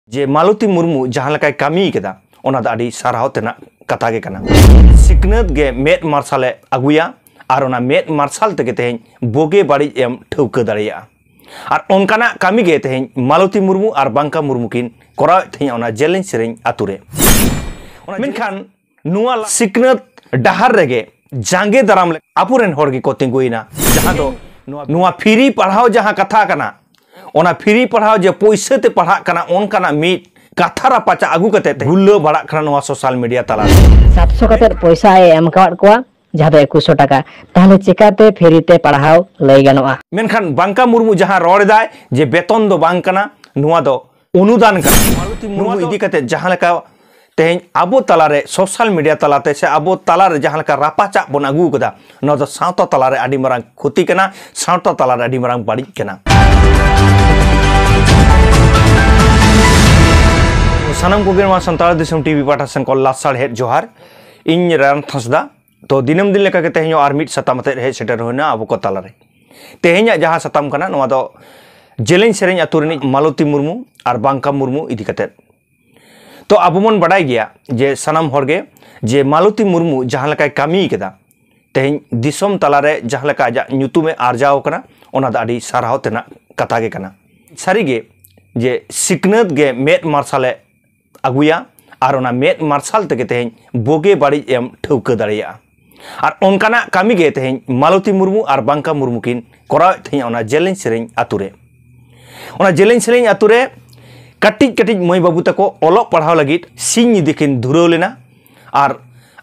ᱡᱮ ᱢᱟᱞᱚᱛᱤ ᱢᱩᱨᱢᱩ ᱡᱟᱦᱟᱸ ᱞᱮᱠᱟᱭ ᱠᱟᱹᱢᱤ ᱠᱮᱫᱟ ᱚᱱᱟ ᱫᱚ ᱟᱹᱰᱤ ᱥᱟᱨᱦᱟᱣ ᱛᱮᱱᱟᱜ ᱠᱟᱛᱷᱟ ᱜᱮ ᱠᱟᱱᱟ ᱥᱤᱠᱷᱱᱟᱹᱛ ᱜᱮ ᱢᱮᱫ ᱢᱟᱨᱥᱟᱞᱮ ᱟᱹᱜᱩᱭᱟ ᱟᱨ ᱚᱱᱟ ᱢᱮᱫ ᱢᱟᱨᱥᱟᱞ ᱛᱮᱜᱮ ᱛᱮᱦᱮᱧ ᱵᱳᱜᱮ ᱵᱟᱹᱲᱤᱡ ᱮᱢ ᱴᱷᱟᱹᱣᱠᱟᱹ ᱫᱟᱲᱮᱭᱟᱜᱼᱟ ᱟᱨ ᱚᱱᱠᱟᱱᱟᱜ ᱠᱟᱹᱢᱤ ᱜᱮ ᱛᱮᱦᱮᱧ ᱢᱟᱞᱚᱛᱤ ᱢᱩᱨᱢᱩ ᱟᱨ ᱵᱟᱝᱠᱟ ᱢᱩᱨᱢᱩ ᱠᱤᱱ ᱠᱚᱨᱟᱣᱮᱫ ᱛᱟᱦᱮᱸᱫ ᱚᱱᱟ ᱡᱮᱞᱮᱧ ᱥᱮᱨᱮᱧ ᱟᱛᱳ ᱨᱮ ᱢᱮᱱᱠᱷᱟᱱ ᱱᱚᱣᱟ ᱥᱤᱠᱷᱱᱟᱹᱛ ᱰᱟᱦᱟᱨ ᱨᱮᱜᱮ ᱡᱟᱸᱜᱮ ᱫᱟᱨᱟᱢ ᱟᱵᱚᱨᱮᱱ ᱦᱚᱲ ᱜᱮᱠᱚ ᱛᱤᱸᱜᱩᱭᱮᱱᱟ ᱡᱟᱦᱟᱸ ᱫᱚ ᱱᱚᱣᱟ ᱯᱷᱤᱨᱤ ᱯᱟᱲᱦᱟᱣ ᱡᱟᱦᱟᱸ ᱠᱟᱛᱷᱟ ᱠᱟᱱᱟ ᱚᱱᱟ ᱯᱷᱤᱨᱤ ᱯᱟᱲᱦᱟᱣ ᱡᱮ ᱯᱚᱭᱥᱟ ᱛᱮ ᱯᱟᱲᱦᱟᱜ ᱠᱟᱱᱟ ᱚᱱᱠᱟᱱᱟᱜ ᱢᱤᱫ ᱠᱟᱛᱷᱟ ᱨᱟᱯᱟᱪᱟ ᱟᱹᱜᱩ ᱠᱟᱛᱮ ᱜᱩᱞᱟᱹ ᱵᱟᱲᱟᱜ ᱠᱟᱱᱟ ᱱᱚᱣᱟ ᱥᱳᱥᱟᱞ ᱢᱤᱰᱤᱭᱟ ᱛᱟᱞᱟ ᱨᱮ ᱥᱟᱛᱥᱚ ᱠᱟᱛᱮ ᱯᱚᱭᱥᱟ ᱮ ᱮᱢ ᱠᱟᱣᱟᱫ ᱠᱚᱣᱟ ᱡᱟᱦᱟᱸ ᱫᱚ ᱮᱠᱩᱥᱚ ᱴᱟᱠᱟ ᱛᱟᱦᱚᱞᱮ ᱪᱮᱠᱟᱛᱮ ᱯᱷᱮᱨᱤ ᱛᱮ ᱯᱟᱲᱦᱟᱣ ᱞᱟᱹᱭ ᱜᱟᱱᱚᱜᱼᱟ ᱢᱮᱱᱠᱷᱟᱱ ᱵᱟᱝᱠᱟ ᱢᱩᱨᱢᱩ ᱡᱟᱦᱟᱸ ᱨᱚᱲ ᱮᱫᱟᱭ ᱡᱮ ᱵᱮᱛᱚᱱ ᱫᱚ ᱵᱟᱝ ᱠᱟᱱᱟ ᱱᱚᱣᱟ ᱫᱚ ᱚᱱᱩᱫᱟᱱ ᱠᱟᱱᱟ ᱢᱟᱞᱚᱛᱤ ᱢᱩᱨᱢᱩ ᱤᱫᱤ ᱠᱟᱛᱮ ᱡᱟᱦᱟᱸ ᱞᱮᱠᱟ ᱛᱮᱦᱮᱧ ᱟᱵᱚ ᱛᱟᱞᱟᱨᱮ ᱥᱳᱥᱟᱞ ᱢᱤᱰᱤᱭᱟ ᱛᱟᱞᱟᱛᱮ ᱥᱮ ᱟᱵᱚ ᱛᱟᱞᱟᱨᱮ ᱡᱟᱦᱟᱸ ᱞᱮᱠᱟ ᱨᱟᱯᱟᱪᱟᱜ ᱵᱚᱱ ᱟᱹᱜᱩ ᱠᱟᱫᱟ ᱱᱚᱣᱟ ᱫᱚ ᱥᱟᱶᱛᱟ ᱛᱟᱞᱟᱨᱮ ᱟᱹᱰᱤ ᱢᱟᱨᱟᱝ ᱠᱷᱚᱛᱤ ᱠᱟᱱᱟ ᱥᱟᱶᱛᱟ ᱛᱟᱞᱟᱨᱮ ᱟᱹᱰᱤ ᱢᱟᱨᱟᱝ ᱵᱟᱹᱲᱤᱡ ᱠᱟᱱᱟ ᱥᱟᱱᱟᱢ ᱠᱚᱜᱮ ᱱᱚᱣᱟ ᱥᱟᱱᱛᱟᱲ ᱫᱤᱥᱚᱢ ᱴᱤᱵᱷᱤ ᱯᱟᱦᱴᱟ ᱥᱮᱱ ᱠᱚ ᱞᱟᱥᱟᱲᱦᱮᱫ ᱡᱚᱦᱟᱨ ᱤᱧ ᱨᱟᱭᱚᱱ ᱛᱷᱟᱸᱥᱫᱟ ᱛᱚ ᱫᱤᱱᱟᱹᱢ ᱫᱤᱱ ᱞᱮᱠᱟᱜᱮ ᱛᱮᱦᱮᱧ ᱟᱨ ᱢᱤᱫ ᱥᱟᱛᱟᱢ ᱟᱛᱮᱫ ᱦᱮᱡ ᱥᱮᱴᱮᱨ ᱦᱩᱭᱱᱟ ᱟᱵᱚ ᱠᱚ ᱛᱟᱞᱟᱨᱮ ᱛᱮᱦᱮᱧᱟᱜ ᱡᱟᱦᱟᱸ ᱥᱟᱛᱟᱢ ᱠᱟᱱᱟ ᱱᱚᱣᱟ ᱫᱚ ᱡᱮᱞᱮᱧ ᱥᱮᱨᱮᱧ ᱟᱛᱳ ᱨᱤᱱᱤᱡ ᱢᱟᱞᱚᱛᱤ ᱢᱩᱨᱢᱩ ᱟᱨ ᱵᱟᱝᱠᱟ ᱢᱩᱨᱢᱩ ᱤᱫᱤ ᱠᱟᱛᱮᱫ ᱛᱚ ᱟᱵᱚ ᱵᱚᱱ ᱵᱟᱰᱟᱭ ᱜᱮᱭᱟ ᱡᱮ ᱥᱟᱱᱟᱢ ᱦᱚᱲᱜᱮ ᱡᱮ ᱢᱟᱞᱚᱛᱤ ᱢᱩᱨᱢᱩ ᱡᱟᱦᱟᱸ ᱞᱮᱠᱟᱭ ᱠᱟᱹᱢᱤ ᱠᱟᱫᱟ ᱛᱮᱦᱮᱧ ᱫᱤᱥᱚᱢ ᱛᱟᱞᱟᱨᱮ ᱡᱟᱦᱟᱸ ᱞᱮᱠᱟ ᱟᱡᱟᱜ ᱧᱩᱛᱩᱢᱮ ᱟᱨᱡᱟᱣ ᱠᱟᱱᱟ ᱚᱱᱟ ᱫᱚ ᱟᱹᱰᱤ ᱥᱟᱨᱦᱟᱣ ᱛᱮᱱᱟᱜ ᱠᱟᱛᱷᱟ ᱜᱮ ᱠᱟᱱᱟ ᱥᱟᱹᱨᱤᱜᱮ ᱡᱮ ᱥᱤᱠᱷᱱᱟᱹᱛ ᱜᱮ ᱢᱮᱫ ᱢᱟᱨᱥᱟᱞᱮ ᱟᱹᱜᱩᱭᱟ ᱟᱨ ᱚᱱᱟ ᱢᱮᱫ ᱢᱟᱨᱥᱟᱞ ᱛᱮᱜᱮ ᱛᱮᱦᱮᱧ ᱵᱳᱜᱮ ᱵᱟᱹᱲᱤᱡ ᱮᱢ ᱴᱷᱟᱹᱣᱠᱟᱹ ᱫᱟᱲᱮᱭᱟᱜᱼᱟ ᱟᱨ ᱚᱱᱠᱟᱱᱟᱜ ᱠᱟᱹᱢᱤ ᱜᱮ ᱛᱮᱦᱮᱧ ᱢᱟᱞᱚᱛᱤ ᱢᱩᱨᱢᱩ ᱟᱨ ᱵᱟᱝᱠᱟ ᱢᱩᱨᱢᱩ ᱠᱤᱱ ᱠᱚᱨᱟᱣᱮᱫ ᱛᱟᱦᱮᱸᱫ ᱚᱱᱟ ᱡᱮᱞᱮᱧ ᱥᱮᱨᱮᱧ ᱟᱛᱳ ᱨᱮ ᱚᱱᱟ ᱡᱮᱞᱮᱧ ᱥᱮᱨᱮᱧ ᱟᱛᱳ ᱨᱮ ᱠᱟᱹᱴᱤᱡ ᱠᱟᱹᱴᱤᱡ ᱢᱟᱹᱭ ᱵᱟᱹᱵᱩ ᱛᱟᱠᱚ ᱚᱞᱚᱜ ᱯᱟᱲᱦᱟᱣ ᱞᱟᱹᱜᱤᱫ ᱥᱤᱧ ᱧᱤᱫᱟᱹ ᱠᱤᱱ ᱫᱷᱩᱨᱟᱹᱣ ᱞᱮᱱᱟ ᱟᱨ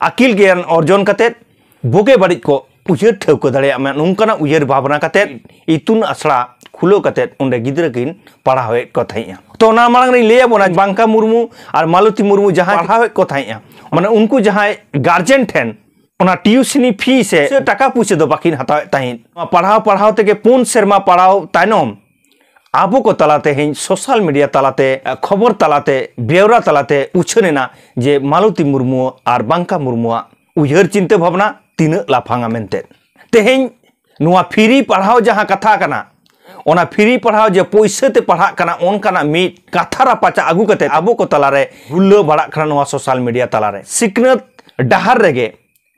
ᱟᱹᱠᱤᱞ ᱜᱮᱭᱟᱱ ᱚᱨᱡᱚᱱ ᱠᱟᱛᱮᱫ ᱵᱳᱜᱮ ᱵᱟᱹᱲᱤᱡ ᱠᱚ ᱩᱭᱦᱟᱹᱨ ᱴᱷᱟᱹᱣᱠᱟᱹ ᱫᱟᱲᱮᱭᱟᱜ ᱢᱟ ᱱᱚᱝᱠᱟᱱᱟᱜ ᱩᱭᱦᱟᱹᱨ ᱵᱷᱟᱵᱽᱱᱟ ᱠᱟᱛᱮᱫ ᱤᱛᱩᱱ ᱟᱥᱲᱟ ᱠᱷᱩᱞᱟᱹᱣ ᱠᱟᱛᱮᱫ ᱚᱸᱰᱮ ᱜᱤᱫᱽᱨᱟᱹ ᱠᱤᱱ ᱯᱟᱲᱦᱟᱣᱮᱫ ᱠᱚ ᱛᱟᱦᱮᱸᱫᱼᱟ ᱛᱚ ᱚᱱᱟ ᱢᱟᱲᱟᱝ ᱨᱮᱧ ᱞᱟᱹᱭ ᱟᱵᱚᱱᱟ ᱵᱟᱝᱠᱟ ᱢᱩᱨᱢᱩ ᱟᱨ ᱢᱟᱞᱚᱛᱤ ᱢᱩᱨᱢᱩ ᱡᱟᱦᱟᱸᱭ ᱯᱟᱲᱦᱟᱣᱮᱫ ᱠᱚ ᱛᱟᱦᱮᱸᱫᱼᱟ ᱢᱟᱱᱮ ᱩᱱᱠᱩ ᱡᱟᱦᱟᱸᱭ ᱜᱟᱨᱡᱮᱱ ᱴᱷᱮᱱ ᱚᱱᱟ ᱴᱤᱭᱩᱥᱤᱱᱤ ᱯᱷᱤ ᱥᱮ ᱴᱟᱠᱟ ᱯᱩᱭᱥᱟᱹ ᱫᱚ ᱵᱟᱹᱠᱤᱱ ᱦᱟᱛᱟᱣᱮᱫ ᱛᱟᱦᱮᱸᱫ ᱯᱟᱲᱦᱟᱣ ᱯᱟᱲᱦᱟᱣ ᱛᱮᱜᱮ ᱯᱩᱱ ᱥᱮᱨᱢᱟ ᱯᱟᱲᱦᱟᱣ ᱛᱟᱭᱱᱚᱢ ᱟᱵᱚ ᱠᱚ ᱛᱟᱞᱟ ᱛᱮᱦᱮᱧ ᱥᱳᱥᱟᱞ ᱢᱤᱰᱤᱭᱟ ᱛᱟᱞᱟᱛᱮ ᱠᱷᱚᱵᱚᱨ ᱛᱟᱞᱟᱛᱮ ᱵᱮᱣᱨᱟ ᱛᱟᱞᱟᱛᱮ ᱩᱪᱷᱟᱹᱱ ᱮᱱᱟ ᱡᱮ ᱢᱟᱞᱚᱛᱤ ᱢᱩᱨᱢᱩ ᱟᱨ ᱵᱟᱝᱠᱟ ᱢᱩᱨᱢᱩᱣᱟᱜ ᱩᱭᱦᱟᱹᱨ ᱪᱤᱱᱛᱟᱹ ᱵᱷᱟᱵᱽᱱᱟ ᱛᱤᱱᱟᱹᱜ ᱞᱟᱯᱷᱟᱝᱟ ᱢᱮᱱᱛᱮ ᱛᱮᱦᱮᱧ ᱱᱚᱣᱟ ᱯᱷᱤᱨᱤ ᱯᱟᱲᱦᱟᱣ ᱡᱟᱦᱟᱸ ᱠᱟᱛᱷᱟ ᱠᱟᱱᱟ ᱚᱱᱟ ᱯᱷᱤᱨᱤ ᱯᱟᱲᱦᱟᱣ ᱡᱮ ᱯᱚᱭᱥᱟ ᱛᱮ ᱯᱟᱲᱦᱟᱜ ᱠᱟᱱᱟ ᱚᱱᱠᱟᱱᱟᱜ ᱢᱤᱫ ᱠᱟᱛᱷᱟ ᱨᱟᱯᱟᱪᱟ ᱟᱹᱜᱩ ᱠᱟᱛᱮ ᱟᱵᱚ ᱠᱚ ᱛᱟᱞᱟᱨᱮ ᱦᱩᱞᱞᱟᱹ ᱵᱟᱲᱟᱜ ᱠᱟᱱᱟ ᱱᱚᱣᱟ ᱥᱳᱥᱟᱞ ᱢᱤᱰᱤᱭᱟ ᱛᱟᱞᱟᱨᱮ ᱥᱤᱠᱷᱱᱟᱹᱛ ᱰᱟᱦᱟᱨ ᱨᱮᱜᱮ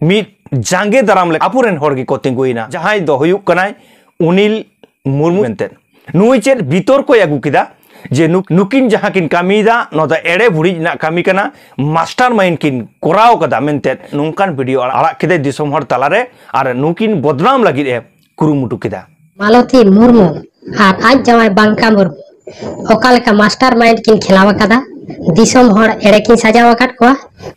ᱢᱤᱫ ᱡᱟᱸᱜᱮ ᱫᱟᱨᱟᱢ ᱞᱮ ᱟᱵᱚᱨᱮᱱ ᱦᱚᱲ ᱜᱮᱠᱚ ᱛᱤᱸᱜᱩᱭᱮᱱᱟ ᱡᱟᱦᱟᱸᱭ ᱫᱚ ᱦᱩᱭᱩᱜ ᱠᱟᱱᱟᱭ ᱩᱱᱤᱞ ᱢᱩᱨᱢᱩ ᱢᱮᱱᱛᱮ ᱱᱩᱭ ᱪᱮᱫ ᱵᱤᱛᱚᱨ ᱠᱚᱭ ᱟᱹᱜᱩ ᱠᱮᱫᱟ ᱡᱮ ᱱᱩᱠᱤᱱ ᱡᱟᱦᱟᱸ ᱠᱤᱱ ᱠᱟᱹᱢᱤᱭᱮᱫᱟ ᱱᱚᱣᱟ ᱫᱚ ᱮᱲᱮ ᱵᱷᱩᱲᱤᱡ ᱨᱮᱱᱟᱜ ᱠᱟᱹᱢᱤ ᱠᱟᱱᱟ ᱢᱟᱥᱴᱟᱨ ᱢᱟᱭᱤᱱᱰ ᱠᱤᱱ ᱠᱚᱨᱟᱣ ᱠᱟᱫᱟ ᱢᱮᱱᱛᱮ ᱱᱚᱝᱠᱟᱱ ᱵᱷᱤᱰᱤᱭᱳ ᱟᱲᱟᱜ ᱠᱮᱫᱟᱭ ᱫᱤᱥᱚᱢ ᱦᱚᱲ ᱛᱟᱞᱟᱨᱮ ᱟᱨ ᱱᱩᱠᱤᱱ ᱵᱚᱫᱱᱟᱢ ᱞᱟᱹᱜᱤᱫ ᱮ ᱠᱩᱨᱩᱢᱩᱴᱩ ᱠᱮᱫᱟ ᱢᱟᱞᱚᱛᱤ ᱢᱩᱨᱢᱩ ᱟᱨ ᱟᱡ ᱡᱟᱶᱟᱭ ᱵᱟᱝᱠᱟ ᱢᱩᱨᱢᱩ ᱚᱠᱟ ᱞᱮᱠᱟ ᱢᱟᱥᱴᱟᱨ ᱢᱟᱭᱤᱱᱰ ᱠᱤᱱ ᱠᱷᱮᱞᱟᱣ ᱟᱠᱟᱫᱟ ᱫᱤᱥᱚᱢ ᱦᱚᱲ ᱮᱲᱮ ᱠᱤᱱ ᱥᱟᱡᱟᱣ ᱟᱠᱟᱫ ᱠᱚᱣᱟ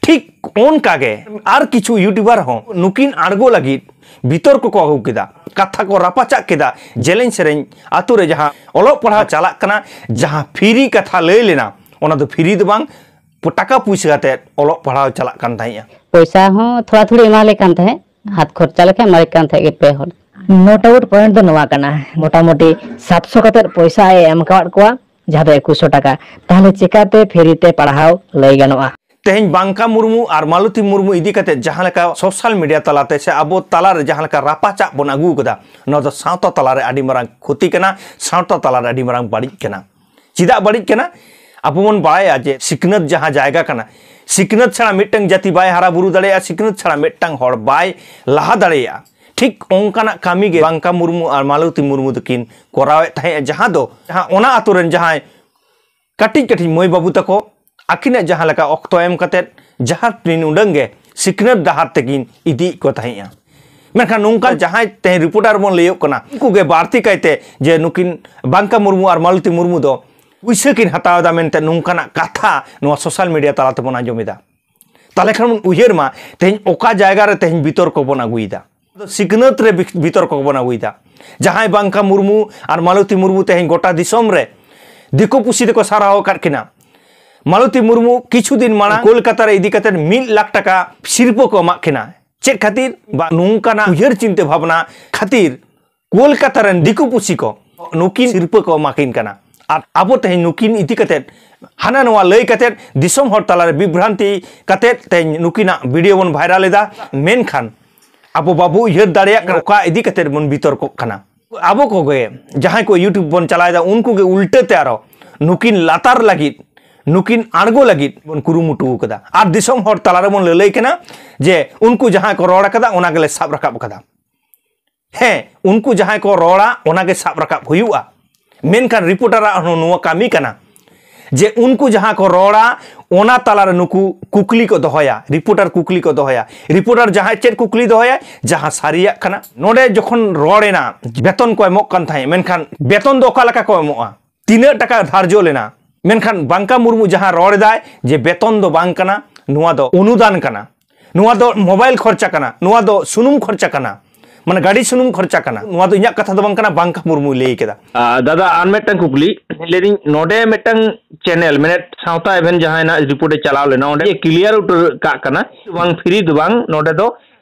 ᱴᱷᱤᱠ ᱚᱱᱠᱟ ᱜᱮ ᱟᱨ ᱠᱤᱪᱷᱩ ᱭᱩᱴᱩᱵᱟᱨ ᱦᱚᱸ ᱱᱩᱠᱤᱱ ᱟᱬᱜᱚ ᱞᱟᱹᱜᱤᱫ ᱵᱤᱛᱚᱨ ᱠᱚᱠᱚ ᱟᱹᱜᱩ ᱠᱮᱫᱟ ᱠᱟᱛᱷᱟ ᱠᱚ ᱨᱟᱯᱟᱪᱟᱜ ᱠᱮᱫᱟ ᱡᱮᱞᱮᱧ ᱥᱮᱨᱮᱧ ᱟᱛᱳ ᱨᱮ ᱡᱟᱦᱟᱸ ᱚᱞᱚᱜ ᱯᱟᱲᱦᱟᱣ ᱪᱟᱞᱟᱜ ᱠᱟᱱᱟ ᱡᱟᱦᱟᱸ ᱯᱷᱤᱨᱤ ᱠᱟᱛᱷᱟ ᱞᱟᱹᱭ ᱞᱮᱱᱟ ᱚᱱᱟ ᱫᱚ ᱯᱷᱤᱨᱤ ᱫᱚ ᱵᱟᱝ ᱴᱟᱠᱟ ᱯᱩᱭᱥᱟᱹ ᱠᱟᱛᱮ ᱚᱞᱚᱜ ᱯᱟᱲᱦᱟᱣ ᱪᱟᱞᱟᱜ ᱠᱟᱱ ᱛᱟᱦᱮᱸᱜᱼᱟ ᱯᱚᱭᱥᱟ ᱦᱚᱸ ᱛᱷᱚᱲᱟ ᱛᱷᱚᱲᱤ ᱮᱢᱟᱞᱮ ᱠᱟᱱ ᱛᱟᱦᱮᱸᱫ ᱦᱟᱛ ᱠᱷᱚᱨᱪᱟ ᱞᱮᱠᱟ ᱮᱢᱟᱞᱮ ᱠᱟᱱ ᱛᱟᱦᱮᱸᱫ ᱜᱮ ᱯᱮ ᱦᱚᱲ ᱱᱚᱴ ᱟᱣᱩᱴ ᱯᱚᱭᱮᱱᱴ ᱫᱚ ᱱᱚᱣᱟ ᱠᱟᱱᱟ ᱢᱚᱴᱟᱢᱩᱴᱤ ᱥᱟᱛᱥᱚ ᱠᱟᱛᱮ ᱯᱚᱭᱥᱟ ᱮᱢ ᱟᱠᱟᱫ ᱠᱚᱣᱟ ᱡᱟᱦᱟᱸ ᱫᱚ ᱮᱠᱩᱥᱚ ᱴᱟᱠᱟ ᱛᱟᱦᱚᱞᱮ ᱪᱮᱠᱟᱛᱮ ᱯᱷᱮᱨᱤ ᱛᱮ ᱯᱟᱲᱦᱟᱣ ᱞᱟᱹᱭ ᱜᱟᱱᱚᱜᱼᱟ ᱛᱮᱦᱮᱧ ᱵᱟᱝᱠᱟ ᱢᱩᱨᱢᱩ ᱟᱨ ᱢᱟᱞᱚᱛᱤ ᱢᱩᱨᱢᱩ ᱤᱫᱤ ᱠᱟᱛᱮ ᱡᱟᱦᱟᱸ ᱞᱮᱠᱟ ᱥᱳᱥᱟᱞ ᱢᱤᱰᱤᱭᱟ ᱛᱟᱞᱟᱛᱮ ᱥᱮ ᱟᱵᱚ ᱛᱟᱞᱟᱨᱮ ᱡᱟᱦᱟᱸ ᱞᱮᱠᱟ ᱨᱟᱯᱟᱪᱟᱜ ᱵᱚᱱ ᱟᱹᱜᱩ ᱠᱟᱫᱟ ᱱᱚᱣᱟ ᱫᱚ ᱥᱟᱶᱛᱟ ᱛᱟᱞᱟᱨᱮ ᱟᱹᱰᱤ ᱢᱟᱨᱟᱝ ᱠᱷᱚᱛᱤ ᱠᱟᱱᱟ ᱥᱟᱶᱛᱟ ᱛᱟᱞᱟᱨᱮ ᱟᱹᱰᱤ ᱢᱟᱨᱟᱝ ᱵᱟᱹᱲᱤᱡ ᱠᱟᱱᱟ ᱪᱮᱫᱟᱜ ᱵᱟᱹᱲᱤᱡ ᱠᱟᱱᱟ ᱟᱵᱚ ᱵᱚᱱ ᱵᱟᱲᱟᱭᱟ ᱡᱮ ᱥᱤᱠᱷᱱᱟᱹᱛ ᱡᱟᱦᱟᱸ ᱡᱟᱭᱜᱟ ᱠᱟᱱᱟ ᱥᱤᱠᱷᱱᱟᱹᱛ ᱪᱷᱟᱲᱟ ᱢᱤᱫᱴᱟᱝ ᱡᱟᱹᱛᱤ ᱵᱟᱭ ᱦᱟᱨᱟ ᱵᱩᱨᱩ ᱫᱟᱲᱮᱭᱟᱜᱼᱟ ᱥᱤᱠᱷᱱᱟᱹᱛ ᱪᱷᱟᱲᱟ ᱢᱤᱫᱴᱟᱝ ᱦᱚᱲ ᱵᱟᱭ ᱞᱟᱦᱟ ᱫᱟᱲᱮᱭᱟᱜᱼᱟ ᱴᱷᱤᱠ ᱚᱱᱠᱟᱱᱟᱜ ᱠᱟᱹᱢᱤ ᱜᱮ ᱵᱟᱝᱠᱟ ᱢᱩᱨᱢᱩ ᱟᱨ ᱢᱟᱞᱚᱛᱤ ᱢᱩᱨᱢᱩ ᱫᱚᱠᱤᱱ ᱠᱚᱨᱟᱣᱮᱫ ᱛᱟᱦᱮᱸᱫ ᱡᱟᱦᱟᱸ ᱫᱚ ᱡᱟᱦᱟᱸ ᱚᱱᱟ ᱟᱛᱳ ᱨᱮᱱ ᱡᱟᱦᱟᱸᱭ ᱠᱟᱹᱴᱤᱡ ᱠᱟᱹᱴᱤᱡ ᱢᱟᱹᱭ ᱵᱟᱹᱵᱩ ᱛᱟᱠᱚ ᱟᱹᱠᱤᱱᱟᱜ ᱡᱟᱦᱟᱸ ᱞᱮᱠᱟ ᱚᱠᱛᱚ ᱮᱢ ᱠᱟᱛᱮᱫ ᱡᱟᱦᱟᱸ ᱛᱤᱱ ᱩᱰᱟᱹᱝ ᱜᱮ ᱥᱤᱠᱷᱱᱟᱹᱛ ᱰᱟᱦᱟᱨ ᱛᱮᱠᱤᱱ ᱤᱫᱤᱭᱮᱫ ᱠᱚ ᱛᱟᱦᱮᱸᱫᱼᱟ ᱢᱮᱱᱠᱷᱟᱱ ᱱᱚᱝᱠᱟ ᱡᱟᱦᱟᱸᱭ ᱛᱮᱦᱮᱧ ᱨᱤᱯᱳᱨᱴᱟᱨ ᱵᱚᱱ ᱞᱟᱹᱭᱚᱜ ᱠᱟᱱᱟ ᱩᱱᱠᱩ ᱜᱮ ᱵᱟᱹᱲᱛᱤ ᱠᱟᱭᱛᱮ ᱡᱮ ᱱᱩᱠᱤᱱ ᱵᱟᱝᱠᱟ ᱢᱩᱨᱢᱩ ᱟᱨ ᱢᱟᱞᱚᱛᱤ ᱢᱩᱨᱢᱩ ᱫᱚ ᱯᱩᱭᱥᱟᱹ ᱠᱤᱱ ᱦᱟᱛᱟᱣ ᱮᱫᱟ ᱢᱮᱱᱛᱮ ᱱᱚᱝᱠᱟᱱᱟᱜ ᱠᱟᱛᱷᱟ ᱱᱚᱣᱟ ᱥᱳᱥᱟᱞ ᱢᱤᱰᱤᱭᱟ ᱛᱟᱞᱟ ᱛᱮᱵᱚᱱ ᱟᱸᱡᱚᱢᱮᱫᱟ ᱛᱟᱦᱚᱞᱮ ᱠᱷᱟᱱ ᱩᱭᱦᱟᱹᱨ ᱢᱟ ᱛᱮᱦᱮᱧ ᱚᱠᱟ ᱡᱟᱭᱜᱟ ᱨᱮ ᱛᱮᱦᱮᱧ ᱵᱤᱛᱚᱨᱠᱚ ᱵᱚᱱ ᱟᱹᱜᱩᱭᱮᱫᱟ ᱥᱤᱠᱷᱱᱟᱹᱛ ᱨᱮ ᱵᱤᱛᱚᱨᱠᱚ ᱵᱚᱱ ᱟᱹᱜᱩᱭᱮᱫᱟ ᱡᱟᱦᱟᱸᱭ ᱵᱟᱝᱠᱟ ᱢᱩᱨᱢᱩ ᱟᱨ ᱢᱟᱞᱚᱛᱤ ᱢᱩᱨᱢᱩ ᱛᱮᱦᱮᱧ ᱜᱚᱴᱟ ᱫᱤᱥᱚᱢ ᱨᱮ ᱫᱤᱠᱩ ᱯᱩᱥᱤ ᱫᱚᱠᱚ ᱥᱟᱨᱦᱟᱣ ᱟᱠᱟᱫ ᱠᱤᱱᱟ ᱢᱟᱞᱚᱛᱤ ᱢᱩᱨᱢᱩ ᱠᱤᱪᱷᱩ ᱫᱤᱱ ᱢᱟᱲᱟᱝ ᱠᱳᱞᱠᱟᱛᱟ ᱨᱮ ᱤᱫᱤ ᱠᱟᱛᱮ ᱢᱤᱫ ᱞᱟᱠᱷ ᱴᱟᱠᱟ ᱥᱤᱨᱯᱟᱹ ᱠᱚ ᱮᱢᱟᱜ ᱠᱤᱱᱟ ᱪᱮᱫ ᱠᱷᱟᱹᱛᱤᱨ ᱵᱟ ᱱᱚᱝᱠᱟᱱᱟᱜ ᱩᱭᱦᱟᱹᱨ ᱪᱤᱱᱛᱟᱹ ᱵᱷᱟᱵᱽᱱᱟ ᱠᱷᱟᱹᱛᱤᱨ ᱠᱳᱞᱠᱟᱛᱟ ᱨᱮᱱ ᱫᱤᱠᱩ ᱯᱩᱥᱤ ᱠᱚ ᱱᱩᱠᱤᱱ ᱥᱤᱨᱯᱟᱹ ᱠᱚ ᱮᱢᱟ ᱠᱤᱱ ᱠᱟᱱᱟ ᱟᱨ ᱟᱵᱚ ᱛᱮᱦᱮᱧ ᱱᱩᱠᱤᱱ ᱤᱫᱤ ᱠᱟᱛᱮ ᱦᱟᱱᱟ ᱱᱚᱣᱟ ᱞᱟᱹᱭ ᱠᱟᱛᱮ ᱫᱤᱥᱚᱢ ᱦᱚᱲ ᱛᱟᱞᱟᱨᱮ ᱵᱤᱵᱷᱨᱟᱱᱛᱤ ᱠᱟᱛᱮ ᱛᱮᱦᱮᱧ ᱱᱩᱠᱤᱱᱟᱜ ᱵᱷᱤᱰᱤᱭᱳ ᱵᱚᱱ ᱵᱷᱟᱭᱨᱟᱞ ᱮᱫᱟ ᱢᱮᱱᱠᱷᱟᱱ ᱟᱵᱚ ᱵᱟᱵᱚ ᱩᱭᱦᱟᱹᱨ ᱫᱟᱲᱮᱭᱟᱜ ᱠᱟᱱᱟ ᱚᱠᱟ ᱤᱫᱤ ᱠᱟᱛᱮ ᱵᱚᱱ ᱵᱤᱛᱚᱨᱠᱚᱜ ᱠᱟᱱᱟ ᱟᱵᱚ ᱠᱚᱜᱮ ᱡᱟᱦᱟᱸᱭ ᱠᱚ ᱤᱭᱩᱴᱩᱵᱽ ᱵᱚᱱ ᱪᱟᱞᱟᱣᱮᱫᱟ ᱩᱱᱠᱩ ᱜᱮ ᱩᱞᱴᱟᱹ ᱛᱮ ᱟᱨᱚ ᱱᱩᱠᱤᱱ ᱞᱟᱛᱟᱨ ᱞᱟᱹᱜᱤᱫ ᱱᱩᱠᱤᱱ ᱟᱬᱜᱚ ᱞᱟᱹᱜᱤᱫ ᱵᱚᱱ ᱠᱩᱨᱩᱢᱩᱴᱩ ᱟᱠᱟᱫᱟ ᱟᱨ ᱫᱤᱥᱚᱢ ᱦᱚᱲ ᱛᱟᱞᱟᱨᱮ ᱵᱚᱱ ᱞᱟᱹᱞᱟᱹᱭ ᱠᱟᱱᱟ ᱡᱮ ᱩᱱᱠᱩ ᱡᱟᱦᱟᱸ ᱠᱚ ᱨᱚᱲ ᱟᱠᱟᱫᱟ ᱚᱱᱟ ᱜᱮᱞᱮ ᱥᱟᱵ ᱨᱟᱠᱟᱵ ᱟᱠᱟᱫᱟ ᱦᱮᱸ ᱩᱱᱠᱩ ᱡᱟᱦᱟᱸᱭ ᱠᱚ ᱨᱚᱲᱟ ᱚᱱᱟᱜᱮ ᱥᱟᱵ ᱨᱟᱠᱟᱵ ᱦᱩᱭᱩᱜᱼᱟ ᱢᱮᱱᱠᱷᱟᱱ ᱨᱤᱯᱳᱨᱴᱟᱨᱟᱜ ᱦᱚᱸ ᱱᱚᱣᱟ ᱠᱟᱹᱢᱤ ᱠᱟᱱᱟ ᱡᱮ ᱩᱱᱠᱩ ᱡᱟᱦᱟᱸ ᱠᱚ ᱨᱚᱲᱟ ᱚᱱᱟ ᱛᱟᱞᱟᱨᱮ ᱱᱩᱠᱩ ᱠᱩᱠᱞᱤ ᱠᱚ ᱫᱚᱦᱚᱭᱟ ᱨᱤᱯᱳᱨᱴᱟᱨ ᱠᱩᱠᱞᱤ ᱠᱚ ᱫᱚᱦᱚᱭᱟ ᱨᱤᱯᱳᱨᱴᱟᱨ ᱡᱟᱦᱟᱸᱭ ᱪᱮᱫ ᱠᱩᱠᱞᱤ ᱫᱚᱦᱚᱭᱟ ᱡᱟᱦᱟᱸ ᱥᱟᱹᱨᱤᱭᱟᱜ ᱠᱟᱱᱟ ᱱᱚᱰᱮ ᱡᱚᱠᱷᱚᱱ ᱨᱚᱲᱮᱱᱟ ᱵᱮᱛᱚᱱ ᱠᱚ ᱮᱢᱚᱜ ᱠᱟᱱ ᱛᱟᱦᱮᱸᱫ ᱢᱮᱱᱠᱷᱟᱱ ᱵᱮᱛᱚᱱ ᱫᱚ ᱚᱠᱟ ᱞᱮᱠᱟ ᱠᱚ ᱮᱢᱚᱜᱼᱟ ᱛᱤᱱᱟᱹᱜ ᱴᱟᱠᱟ ᱫᱷᱟᱨᱡᱚ ᱞᱮᱱᱟ ᱢᱮᱱᱠᱷᱟᱱ ᱵᱟᱝᱠᱟ ᱢᱩᱨᱢᱩ ᱡᱟᱦᱟᱸ ᱨᱚᱲ ᱮᱫᱟᱭ ᱡᱮ ᱵᱮᱛᱚᱱ ᱫᱚ ᱵᱟᱝ ᱠᱟᱱᱟ ᱱᱚᱣᱟ ᱫᱚ ᱚᱱᱩᱫᱟᱱ ᱠᱟᱱᱟ ᱱᱚᱣᱟ ᱫᱚ ᱢᱳᱵᱟᱭᱤᱞ ᱠᱷᱚᱨᱪᱟ ᱠᱟᱱᱟ ᱱᱚᱣᱟ ᱫᱚ ᱥᱩᱱᱩᱢ ᱠᱷᱚᱨᱪᱟ ᱠᱟᱱᱟ ᱢᱟᱱᱮ ᱜᱟᱹᱰᱤ ᱥᱩᱱᱩᱢ ᱠᱷᱚᱨᱪᱟ ᱠᱟᱱᱟ ᱱᱚᱣᱟ ᱫᱚ ᱤᱧᱟᱹᱜ ᱠᱟᱛᱷᱟ ᱫᱚ ᱵᱟᱝ ᱠᱟᱱᱟ ᱵᱟᱝᱠᱟ ᱢᱩᱨᱢᱩᱭ ᱞᱟᱹᱭ ᱠᱮᱫᱟ ᱫᱟᱫᱟ ᱟᱨ ᱢᱤᱫᱴᱟᱝ ᱠᱩᱠᱞᱤ ᱞᱟᱹᱭᱫᱟᱹᱧ ᱱᱚᱰᱮ ᱢᱤᱫᱴᱟᱝ ᱪᱮᱱᱮᱞ ᱢᱮᱱᱮᱫ ᱥᱟᱶᱛᱟ ᱮᱵᱷᱮᱱ ᱡᱟᱦᱟᱸᱭ ᱱᱟᱜ ᱨᱤᱯᱳᱨᱴ ᱮ ᱪᱟᱞᱟᱣ ᱞᱮᱱᱟ ᱚᱸᱰᱮ ᱠᱞᱤᱭᱟᱨ ᱩᱛᱟᱹᱨ ᱠᱟᱜ ᱠᱟᱱᱟ ᱵᱟᱝ ᱯᱷᱨᱤ ᱫᱚ ᱵᱟᱝ ᱱᱚᱰᱮ ᱫᱚ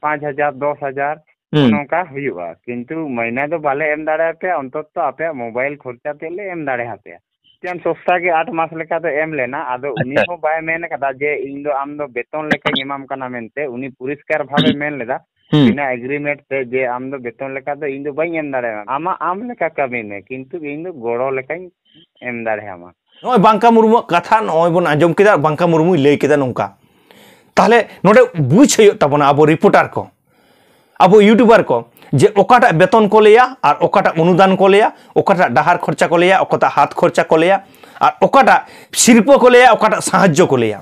ᱯᱟᱸᱪ ᱦᱟᱡᱟᱨ ᱫᱚᱥ ᱦᱟᱡᱟᱨ ᱱᱚᱝᱠᱟ ᱦᱩᱭᱩᱜᱼᱟ ᱠᱤᱱᱛᱩ ᱢᱟᱹᱭᱱᱟᱹ ᱫᱚ ᱵᱟᱞᱮ ᱮᱢ ᱫᱟᱲᱮᱭᱟᱯᱮᱭᱟ ᱚᱱᱛᱚᱛᱚ ᱟᱯᱮᱭᱟᱜ ᱢᱳᱵᱟᱭᱤᱞ ᱠᱷᱚᱨᱪᱟ ᱛᱮᱫ ᱞᱮ ᱮᱢ ᱫᱟᱲᱮᱭᱟᱯᱮᱭᱟ ᱢᱤᱫᱴᱮᱱ ᱥᱚᱥᱛᱟ ᱜᱮ ᱟᱴ ᱢᱟᱥ ᱞᱮᱠᱟ ᱫᱚ ᱮᱢ ᱞᱮᱱᱟ ᱟᱫᱚ ᱩᱱᱤ ᱦᱚᱸ ᱵᱟᱭ ᱢᱮᱱ ᱟᱠᱟᱫᱟ ᱡᱮ ᱤᱧ ᱫᱚ ᱟᱢ ᱫᱚ ᱵᱮᱛᱚᱱ ᱞᱮᱠᱟᱧ ᱮᱢᱟᱢ ᱠᱟᱱᱟ ᱢᱮᱱᱛᱮ ᱩᱱᱤ ᱯᱚᱨᱤᱥᱠᱟᱨ ᱵᱷᱟᱵᱮ ᱢᱮᱱ ᱞᱮᱫᱟ ᱵᱤᱱᱟ ᱮᱜᱽᱨᱤᱢᱮᱱᱴ ᱛᱮ ᱡᱮ ᱟᱢ ᱫᱚ ᱵᱮᱛᱚᱱ ᱞᱮᱠᱟ ᱫᱚ ᱤᱧ ᱫᱚ ᱵᱟᱹᱧ ᱮᱢ ᱫᱟᱲᱮᱭᱟᱢᱟ ᱟᱢᱟᱜ ᱟᱢ ᱞᱮᱠᱟ ᱠᱟᱹᱢᱤ ᱢᱮ ᱠᱤᱱᱛᱩ ᱤᱧ ᱫᱚ ᱜᱚᱲᱚ ᱞᱮᱠᱟᱧ ᱮᱢ ᱫᱟᱲᱮᱭᱟᱢᱟ ᱱᱚᱜᱼᱚᱭ ᱵᱟᱝᱠᱟ ᱢᱩᱨᱢᱩᱣᱟᱜ ᱠᱟᱛᱷᱟ ᱱᱚᱜᱼᱚᱭ ᱵᱚᱱ ᱟᱸᱡᱚᱢ ᱠᱮᱫᱟ ᱵᱟᱝᱠᱟ ᱢᱩᱨᱢᱩᱭ ᱞᱟᱹᱭ ᱠᱮᱫᱟ ᱱᱚᱝᱠᱟ ᱛᱟᱦᱞᱮ ᱱᱚᱰᱮ ᱵᱩᱡᱽ ᱦᱩᱭᱩᱜ ᱛᱟᱵᱚᱱᱟ ᱟᱵᱚ ᱨᱤᱯᱳᱨᱴᱟᱨ ᱠᱚ ᱟᱵᱚ ᱤᱭᱩᱴᱩᱵᱟᱨ ᱠᱚ ᱡᱮ ᱚᱠᱟᱴᱟᱜ ᱵᱮᱛᱚᱱ ᱠᱚ ᱞᱟᱹᱭᱟ ᱟᱨ ᱚᱠᱟᱴᱟᱜ ᱚᱱᱩᱫᱟᱱ ᱠᱚ ᱞᱟᱹᱭᱟ ᱚᱠᱟᱴᱟᱜ ᱰᱟᱦᱟᱨ ᱠᱷᱚᱨᱪᱟ ᱠᱚ ᱞᱟᱹᱭᱟ ᱚᱠᱟᱴᱟᱜ ᱦᱟᱛ ᱠᱷᱚᱨᱪᱟ ᱠᱚ ᱞᱟᱹᱭᱟ ᱟᱨ ᱚᱠᱟᱴᱟᱜ ᱥᱤᱨᱯᱟᱹ ᱠᱚ ᱞᱟᱹᱭᱟ ᱚᱠᱟᱴᱟᱜ ᱥᱟᱦᱟᱡᱽᱡᱚ ᱠᱚ ᱞᱟᱹᱭᱟ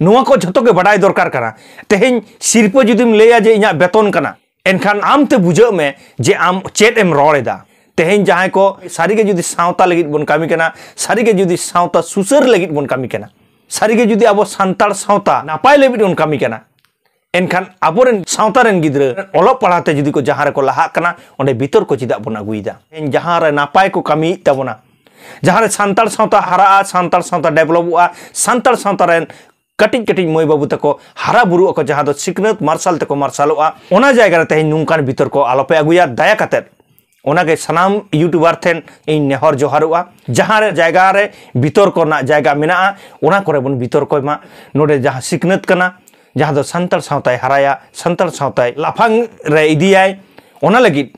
ᱱᱚᱣᱟ ᱠᱚ ᱡᱷᱚᱛᱚ ᱜᱮ ᱵᱟᱰᱟᱭ ᱫᱚᱨᱠᱟᱨ ᱠᱟᱱᱟ ᱛᱮᱦᱮᱧ ᱥᱤᱨᱯᱟᱹ ᱡᱩᱫᱤᱢ ᱞᱟᱹᱭᱟ ᱡᱮ ᱤᱧᱟᱹᱜ ᱵᱮᱛᱚᱱ ᱠᱟᱱᱟ ᱮᱱᱠᱷᱟᱱ ᱟᱢ ᱛᱮ ᱵᱩᱡᱷᱟᱹᱜ ᱢᱮ ᱡᱮ ᱟᱢ ᱪᱮᱫ ᱮᱢ ᱨᱚᱲ ᱮᱫᱟ ᱛᱮᱦᱮᱧ ᱡᱟᱦᱟᱸᱭ ᱠᱚ ᱥᱟᱹᱨᱤᱜᱮ ᱡᱩᱫᱤ ᱥᱟᱶᱛᱟ ᱞᱟᱹᱜᱤᱫ ᱵᱚᱱ ᱠᱟᱹᱢᱤ ᱠᱟᱱᱟ ᱥᱟᱹᱨᱤᱜᱮ ᱡᱩᱫᱤ ᱥᱟᱶᱛᱟ ᱥᱩᱥᱟᱹᱨ ᱞᱟᱹᱜᱤᱫ ᱵᱚᱱ ᱠᱟᱹᱢᱤ ᱠᱟᱱᱟ ᱥᱟᱹᱨᱤᱜᱮ ᱡᱩᱫᱤ ᱟᱵᱚ ᱥᱟᱱᱛᱟᱲ ᱥᱟᱶᱛᱟ ᱱᱟᱯᱟᱭ ᱞᱟᱹᱜᱤᱫ ᱵᱚᱱ ᱠᱟᱹᱢᱤ ᱠᱟᱱᱟ ᱮᱱᱠᱷᱟᱱ ᱟᱵᱚᱨᱮᱱ ᱥᱟᱶᱛᱟ ᱨᱮᱱ ᱜᱤᱫᱽᱨᱟᱹ ᱚᱞᱚᱜ ᱯᱟᱲᱦᱟᱣ ᱛᱮ ᱡᱩᱫᱤ ᱠᱚ ᱡᱟᱦᱟᱸ ᱨᱮᱠᱚ ᱞᱟᱦᱟᱜ ᱠᱟᱱᱟ ᱚᱸᱰᱮ ᱵᱤᱛᱚᱨ ᱠᱚ ᱪᱮᱫᱟᱜ ᱵᱚᱱ ᱟᱹᱜᱩᱭᱮᱫᱟ ᱛᱮᱦᱮᱧ ᱡᱟᱦᱟᱸ ᱨᱮ ᱱᱟᱯᱟᱭ ᱠᱚ ᱠᱟᱹᱢᱤᱭᱮᱫ ᱛᱟᱵᱚᱱᱟ ᱡᱟᱦᱟᱸ ᱨᱮ ᱥᱟᱱᱛᱟᱲ ᱥᱟᱶᱛᱟ ᱦᱟᱨᱟᱜᱼᱟ ᱥᱟᱱᱛᱟᱲ ᱥᱟᱶᱛᱟ ᱰᱮᱵᱷᱞᱚᱯᱚᱜᱼᱟ ᱥᱟᱱᱛᱟᱲ ᱥᱟᱶᱛᱟ ᱨᱮᱱ ᱠᱟᱹᱴᱤᱡ ᱠᱟᱹᱴᱤᱡ ᱢᱟᱹᱭ ᱵᱟᱹᱵᱩ ᱛᱟᱠᱚ ᱦᱟᱨᱟ ᱵᱩᱨᱩᱜ ᱟᱠᱚ ᱡᱟᱦᱟᱸ ᱫᱚ ᱥᱤᱠᱷᱱᱟᱹᱛ ᱢᱟᱨᱥᱟᱞ ᱛᱮᱠᱚ ᱢᱟᱨᱥᱟᱞᱚᱜᱼᱟ ᱚᱱᱟ ᱡᱟᱭᱜᱟ ᱨᱮ ᱛᱮᱦᱮᱧ ᱱᱚᱝᱠᱟᱱ ᱵᱤᱛᱚᱨ ᱠᱚ ᱟᱞᱚᱯᱮ ᱟᱹᱜᱩᱭᱟ ᱫᱟᱭᱟ ᱠᱟᱛᱮᱫ ᱚᱱᱟᱜᱮ ᱥᱟᱱᱟᱢ ᱤᱭᱩᱴᱩᱵᱟᱨ ᱴᱷᱮᱱ ᱤᱧ ᱱᱮᱦᱚᱨ ᱡᱚᱦᱟᱨᱚᱜᱼᱟ ᱡᱟᱦᱟᱸ ᱨᱮ ᱡᱟᱭᱜᱟ ᱨᱮ ᱵᱤᱛᱚᱨ ᱠᱚ ᱨᱮᱱᱟᱜ ᱡᱟᱭᱜᱟ ᱢᱮᱱᱟᱜᱼᱟ ᱚᱱᱟ ᱠᱚᱨᱮ ᱵᱚᱱ ᱵᱤᱛᱚᱨ ᱠᱚᱭ ᱢᱟ ᱱᱚᱰᱮ ᱡᱟᱦᱟᱸ ᱥᱤᱠᱷᱱᱟᱹᱛ ᱠᱟᱱᱟ ᱡᱟᱦᱟᱸ ᱫᱚ ᱥᱟᱱᱛᱟᱲ ᱥᱟᱶᱛᱟᱭ ᱦᱟᱨᱟᱭᱟ ᱥᱟᱱᱛᱟᱲ ᱥᱟᱶᱛᱟᱭ ᱞᱟᱯᱷᱟᱝ ᱨᱮ ᱤᱫᱤᱭᱟᱭ ᱚᱱᱟ ᱞᱟᱹᱜᱤᱫ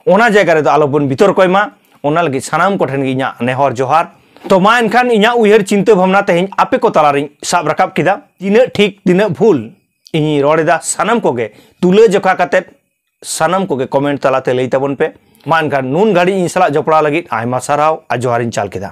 ᱚᱱᱟ ᱡᱟᱭᱜᱟ ᱨᱮᱫᱚ ᱟᱞᱚᱵᱚᱱ ᱵᱤᱛᱚᱨ ᱠᱚᱭ ᱢᱟ ᱚᱱᱟ ᱞᱟᱹᱜᱤᱫ ᱥᱟᱱᱟᱢ ᱠᱚᱴᱷᱮᱱ ᱜᱮ ᱤᱧᱟᱹᱜ ᱱᱮᱦᱚᱨ ᱡᱚᱦᱟᱨ ᱛᱚ ᱢᱟ ᱮᱱᱠᱷᱟᱱ ᱤᱧᱟᱹᱜ ᱩᱭᱦᱟᱹᱨ ᱪᱤᱱᱛᱟᱹ ᱵᱷᱟᱵᱽᱱᱟ ᱛᱮᱦᱮᱧ ᱟᱯᱮ ᱠᱚ ᱛᱟᱞᱟᱨᱤᱧ ᱥᱟᱵ ᱨᱟᱠᱟᱵ ᱠᱮᱫᱟ ᱛᱤᱱᱟᱹᱜ ᱴᱷᱤᱠ ᱛᱤᱱᱟᱹᱜ ᱵᱷᱩᱞ ᱤᱧᱤᱧ ᱨᱚᱲ ᱮᱫᱟ ᱥᱟᱱᱟᱢ ᱠᱚᱜᱮ ᱛᱩᱞᱟᱹ ᱡᱚᱠᱷᱟ ᱠᱟᱛᱮ ᱥᱟᱱᱟᱢ ᱠᱚᱜᱮ ᱠᱚᱢᱮᱱᱴ ᱛᱟᱞᱟᱛᱮ ᱞᱟᱹᱭ ᱛᱟᱵᱚᱱ ᱯᱮ ᱢᱟ ᱮᱱᱠᱷᱟᱱ ᱱᱩᱱ ᱜᱷᱟᱹᱲᱤᱡ ᱤᱧ ᱥᱟᱞᱟᱜ ᱡᱚᱯᱲᱟᱣ ᱞᱟᱹᱜᱤᱫ ᱟᱭᱢᱟ ᱥᱟᱨᱦᱟᱣ ᱟᱨ ᱡᱚᱦᱟᱨᱤᱧ ᱪᱟᱞ ᱠᱮᱫᱟ